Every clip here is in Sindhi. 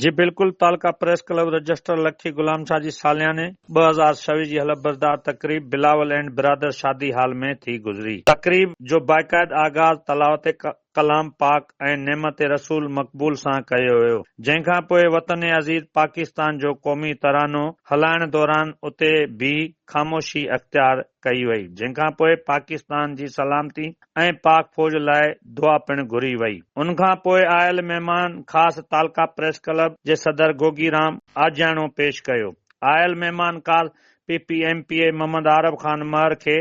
جي بلڪل تعلقه پريس ڪلب رجسٽر لکي غلام شاهه جي سالياني ٻه هزار ڇويهه جي حلف بردار تقريب بلاول اينڊ برادر شادي هال ۾ ٿي گذري. تقريب جو باقاعد آغاز تلاوت ڪلام پاڪ ۽ نعمت رسول مقبول سان ڪيو ويو جنهن کان پوء وطن عزيز پاڪستان جو قومي ترانو هلائڻ دوران اتي بيهي خاموشي اختيار ڪئي وئي جنهن کان پوء پاڪستان جي سلامتي ۽ پاڪ فوج لاء دعا پڻ گهري وئي ان کان پوء آيل مهمان خاص تعلقه پريس ڪلب جي صدر گوگي رام آجياڻو پيش ڪيو آيل مهمان خاص P P M P A Muhammad Arab Khan Mehar کي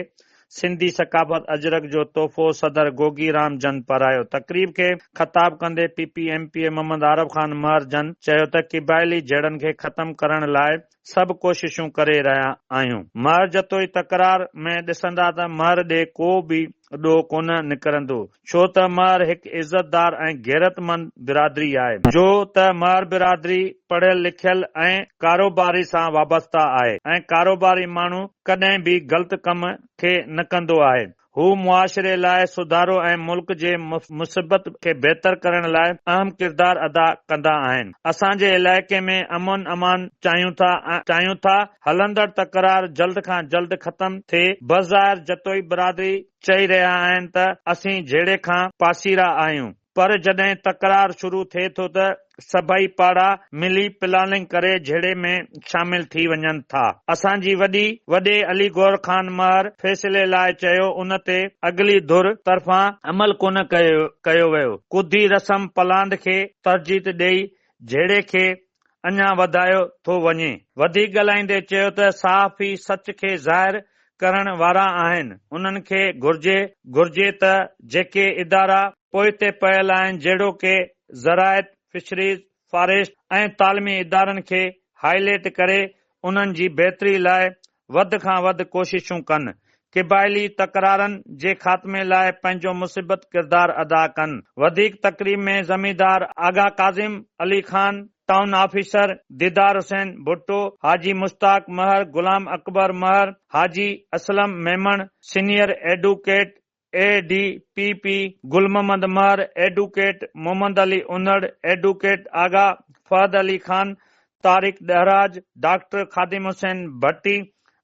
سنڌي ثقافت اجرڪ جو تحفو صدر گوگي رام جن پرايو تقريب کي خطاب ڪندي P P M P A Muhammad Arab Khan Mehar جن چيو ته قبائلي جهيڙن کي ختم ڪرڻ لاء سڀ ڪوششون ڪري رهيا آهيون. مهر جتوئي تڪرار ۾ ڏسندا ته مهر ڏي ڪو به ڏو ڪونه نڪرندو ڇو ته مهر هڪ عزت دار ۽ غيرت مند برادري آهي. جو ته مهر برادري پڙهيل لکيل ۽ ڪاروباري سان وابسته آهي ۽ ڪاروباري ماڻهو ڪڏهن به غلط ڪم کي نه ڪندو آهي هو معاشري لاء سڌارو ۽ ملڪ جي مثبت کي بهتر ڪرڻ لاء اهم ڪردار ادا ڪندا آهن. اسان جي علائقي ۾ امن امان چاهيون ٿا ۽ چاهيون ٿا هلندڙ تڪرار جلد کان جلد ختم ٿئي. بظاهر جتوئي برادري چئي رهيا آهن ته اسين جهيڙي کان پاسيرا آهيون. پر جڏهن تڪرار شروع ٿئي ٿو ته سڀئي پاڙا ملي پلاننگ ڪري جهيڙي ۾ شامل ٿي وڃن ٿا. اسان جي وڏي وڏي علي گور خان مهر فيصلي لاء چيو ان تي اڳلي ڌر طرفان عمل ڪونه ڪيو ويو. ڪڌي رسم پلاند کي ترجيت ڏئي جهيڙي کي اڃا وڌايو ٿو وڃي. وڌيڪ ڳالهائيندي چيو ته صحافي سچ کي ظاهر ڪرڻ وارا آهن، انهن کي گهرجي گهرجي ته جيڪي ادارا پوئتي پيل آهن جهڙوڪ زراعت، فشريز، فاريسٽ ۽ تعلمي ادارن کي هائي ليٽ ڪري انهن جي بهتري لاء وڌ کان وڌ ڪوششون ڪن، قبائلي تڪرارن جي خاتمي لاء پنهنجو مثبت ڪردار ادا ڪن. وڌيڪ تقريب ۾ زميندار Agha Kazim, Ali Khan, town officer Didar Hussain Bhutto, Haji Mushtaq Mahar, Ghulam Akbar Mahar, Haji Aslam Memon, senior advocate A D P P Gul Muhammad Mahar, advocate Muhammad Ali Unar, advocate Agha Fahad Ali Khan, Tariq Dahraj, doctor Khadim Hussain Bhatti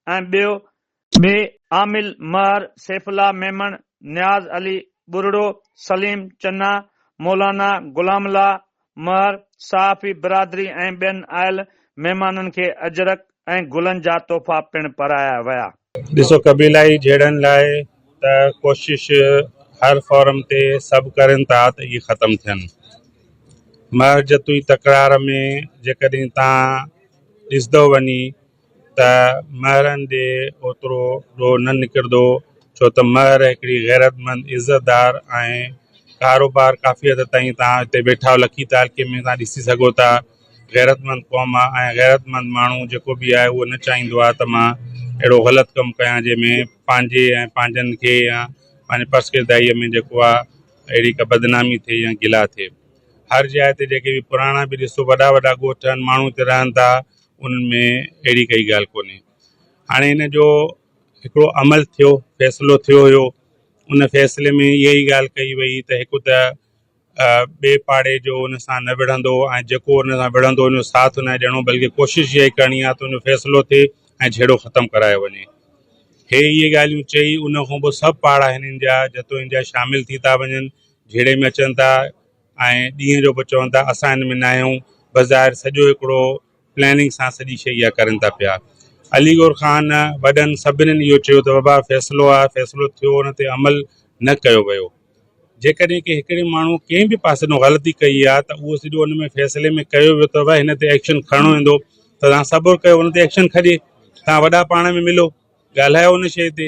۽ ٻيو، ٻئي عامل مهر، سيف الله ميمڻ، نياز علي ٻرڙو، سليم چنا، مولانا غلام الله، مهر، صحافي برادري ۽ ٻين آيل مهمانن کي اجرڪ ۽ گلن جا تحفا پڻ پرايا ويا. ڏسو قبيلائي جهيڙن لاء ته ڪوشش هر فورم تي سڀ ڪرين ٿا ته اهي ختم ٿين. مهر جتوئي تڪرار ۾ جيڪڏهن تان ڏسدو وڃي ته مهرن ڏي اوترو ڏوهه نه نڪردو ڇو ته مهر هڪڙي غيرتمند عزتدار آهن ڪاروبار ڪافي حد تائين توهان هتي ويٺا لکي تعلقي ۾ توهان ڏسي سگهو ٿا غيرتمند قوم آهي ۽ غيرتمند ماڻهو جيڪو به آهي اهو نه چاهيندو آهي ته مان اهڙو غلط ڪم ڪيان جنهن ۾ پنهنجي ۽ پنهنجن کي يا پنهنجي پرسڪردائيء ۾ جيڪو آهي اهڙي ڪا بدنامي ٿئي يا گلا ٿئي هر جاء تي جيڪي به پراڻا به ڏسو وڏا وڏا ڳوٺ آهن ماڻهو هتي رهن ٿا انهن ۾ اهڙي ڪائي ڳالهه ڪونهي هاڻي هن جو هڪڙو عمل ٿيو فيصلو ٿيو هيو ان فيصلي ۾ اها ئي ڳالهه ڪئي وئي ته هڪ ته ٻئي پاڙي جو ان سان نه وڙهندو ۽ جيڪو ان سان وڙهندو ان جو ساٿ نه ڏيڻو بلڪه ڪوشش اها ئي ڪرڻي آهي ته ان جو فيصلو ٿئي ۽ جهيڙو ختم ڪرايو وڃي هي اهي ڳالهيون چئي ان کان پوء سڀ پاڙا هنن جا جتوئن جا شامل ٿي ٿا وڃن جهيڙي ۾ اچن ٿا ۽ ڏينهن جو به چون ٿا اسان ان ۾ نه آهيون بظاهر سڄو هڪڙو پلاننگ سان سڄي شئي اها ڪرن ٿا پيا علي گور خان وڏن سڀنن اهو چيو ته بابا فيصلو آهي فيصلو ٿيو ان تي عمل نه ڪيو ويو جيڪڏهن ڪنهن هڪڙي ماڻهو ڪنهن به پاسي نو غلطي ڪئي آهي ته اهو سڄو ان ۾ فيصلي ۾ ڪيو ويو ته هن تي ايڪشن کڻڻو ويندو ته تان صبر ڪيو ان تي ايڪشن کڄي تان وڏا پاڻ ۾ ملو ڳالهايو ان شئي تي